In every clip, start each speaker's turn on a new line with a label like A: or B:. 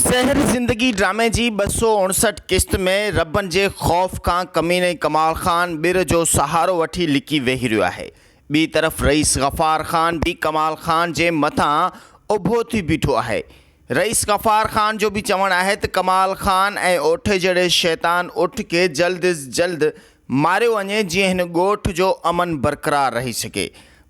A: زهر زندگي ڊرامي جي ٻه سؤ اڻسٺ قسط ۾ ربن جي خوف کان ڪميني ڪمال خان ٻر جو سهارو وٺي لڪي ويهي رهيو آهي. ٻي طرف رئيس غفار خان به ڪمال خان جي مٿان اڀو ٿي بيٺو آهي. رئيس غفار خان جو به چوڻ آهي ته ڪمال خان ۽ اوٺي جهڙي شيطان اٺ کي جلد از جلد ماريو وڃي جيئن هن ڳوٺ جو امن برقرار رهي سگهي.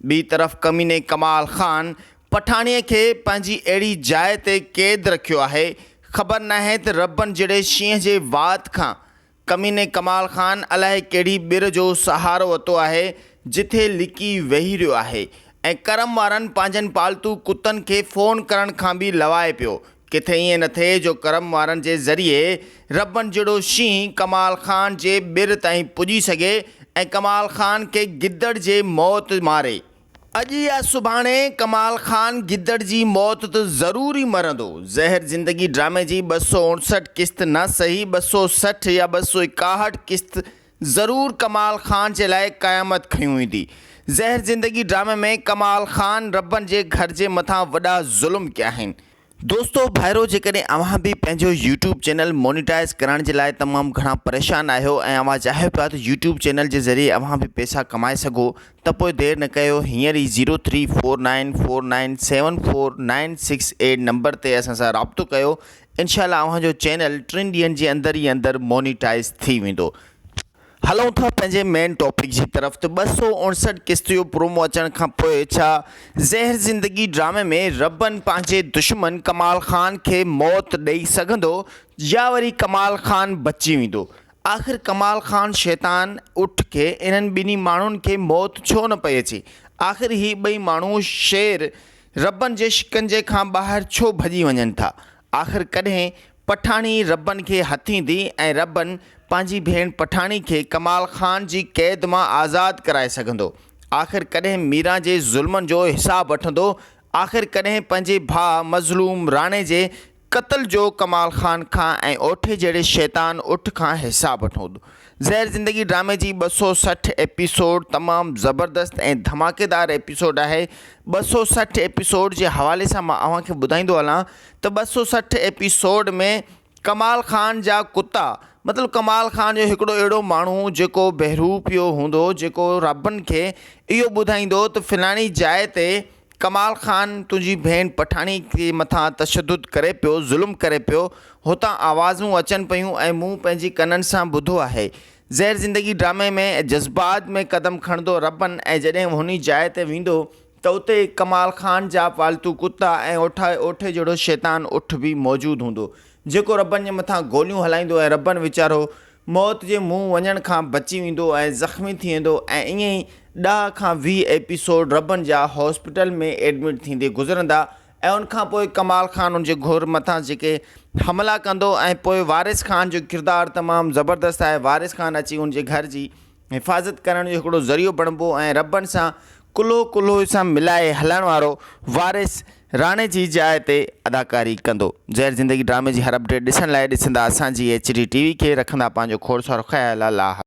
A: ٻي طرف ڪميني ڪمال خان پٺاڻيء کي پنهنجي اهڙي جاء تي قيد رکيو آهي، خبر ناهي ته ربن جهڙي شينهن جي وات کان ڪميني ڪمال خان الاهي ڪهڙي ٻر جو سهارو وتو آهي، جتي لڪي ويهي رهيو آهي ۽ ڪرم وارن پنهنجن پالتو ڪتن کي فون ڪرڻ کان به لوائي پيو. ڪٿي ائين نه ٿئي جو ڪرم وارن جي ذريعي ربن جهڙو شينهن ڪمال خان جي ٻر تائين پڄي سگهي ۽ ڪمال خان کي گدڙ جي موت ماري. اڄ يا سڀاڻي ڪمال خان گدڙ جي موت ته ضرور ئي مرندو. زهر زندگي ڊرامي جي ٻه سؤ اڻسٺ قسط نه سهي ٻه سؤ سٺ يا ٻه سؤ ايڪاهٺ قسط ضرور ڪمال خان جي لاء قيامت کنيون ايندي. زهر زندگي ڊرامي ۾ ڪمال خان ربن جي گهر جي مٿان وڏا ظلم ڪيا آهن. دوستو ڀائرو جيڪڏهن اوهان به پنهنجو يوٽيوب چينل مونيٽائز ڪرائڻ جي لاء تمام گهڻا پريشان آهيو ۽ اوهان چاهيو پيا ته يوٽيوب چينل جي ذريعي اوهان به پيسا ڪمائي سگهو ته پوء دير نه ڪيو هينئر ئي zero three four nine four nine seven four nine six eight number تي اسان سان رابطو ڪيو انشاء الله اوهان جو چينل ٽن ڏينهن جي اندر ئي اندر مونيٽائز ٿي ويندو هلون ٿا پنهنجي مين ٽاپڪ جي طرف ته ٻه سؤ اڻسٺ قسط جو پرومو اچڻ کان پوء ڇا زهر زندگي ڊرامي ۾ ربن پنهنجي دشمن ڪمال خان کي موت ڏئي سگهندو يا وري ڪمال خان بچي ويندو آخر ڪمال خان شيطان اٺ کي انهن ٻنهي ماڻهن کي موت ڇو نه پئي اچي آخر هي ٻئي ماڻهو شير ربن جي شڪنجي کان ٻاهر ڇو ڀڄي وڃن ٿا آخر ڪڏهن پٺاڻي ربن کي هٿيندي ۽ ربن پنهنجي ڀيڻ پٺاڻي کي ڪمال خان جي قيد مان آزاد ڪرائي سگهندو؟ آخر ڪڏهن ميران جي ظلمن جو حساب وٺندو؟ آخر ڪڏهن پنهنجي ڀاء مظلوم راڻي جي قتل جو ڪمال خان کان ۽ اوٺي جهڙي شيطان اٺ کان حساب وٺندو؟ زهر زندگي ڊرامي جي ٻه سؤ سٺ ايپيسوڊ تمام زبردست ۽ ڌماڪيدار ايپيسوڊ آهي ٻه سؤ سٺ ايپيسوڊ جي حوالي سان مان اوهان کي ٻڌائيندو هلان ته ٻه سؤ سٺ ايپيسوڊ ۾ ڪمال خان جا ڪتا مطلب ڪمال خان جو هڪڙو اهڙو ماڻهو جيڪو بهروپيو هوندو جيڪو رابن کي اهو ٻڌائيندو ته فلاڻي جاء تي ڪمال خان تنهنجي ڀيڻ پٺاڻي تي مٿان تشدد ڪري پيو ظلم ڪري پيو هتان آوازون اچن پيون ۽ مون پنهنجي ڪنن سان ٻڌو آهي زهر زندگي ڊرامي ۾ جذبات ۾ قدم کڻندو ربن ۽ جڏهن هوني جاء تي ويندو ته اتي ڪمال خان جا پالتو ڪتا ۽ اوٺائي اوٺي جهڙو شيطان اٺ به موجود هوندو جيڪو ربن جي مٿان گوليون هلائيندو ۽ ربن ويچارو موت جي منهن وڃڻ کان بچي ويندو ۽ زخمي ٿي ويندو ۽ ائين ئي ڏهه کان ويهه ايپيسوڊ ربن جا هاسپيٽل ۾ ايڊمٽ ٿيندي گذرندا ۽ ان کان پوء ڪمال خان ان جي گهر مٿان جيڪي حملا ڪندو ۽ پوء وارث خان جو ڪردار تمام زبردست آهي وارث خان اچي ان جي گهر جي حفاظت ڪرڻ جو هڪڙو ذريعو بڻبو ۽ ربن سان ڪلهو ڪلهو سان ملائي هلڻ وارو وارث راڻي جي جاء تي اداڪاري ڪندو. زهر زندگي ڊرامي جي هر اپڊيٽ ڏسڻ لاء ڏسندا اسان جي ايڇ ڊي ٽي وي کي رکندا پنهنجو کوڙ سارو خيال الله حافظ.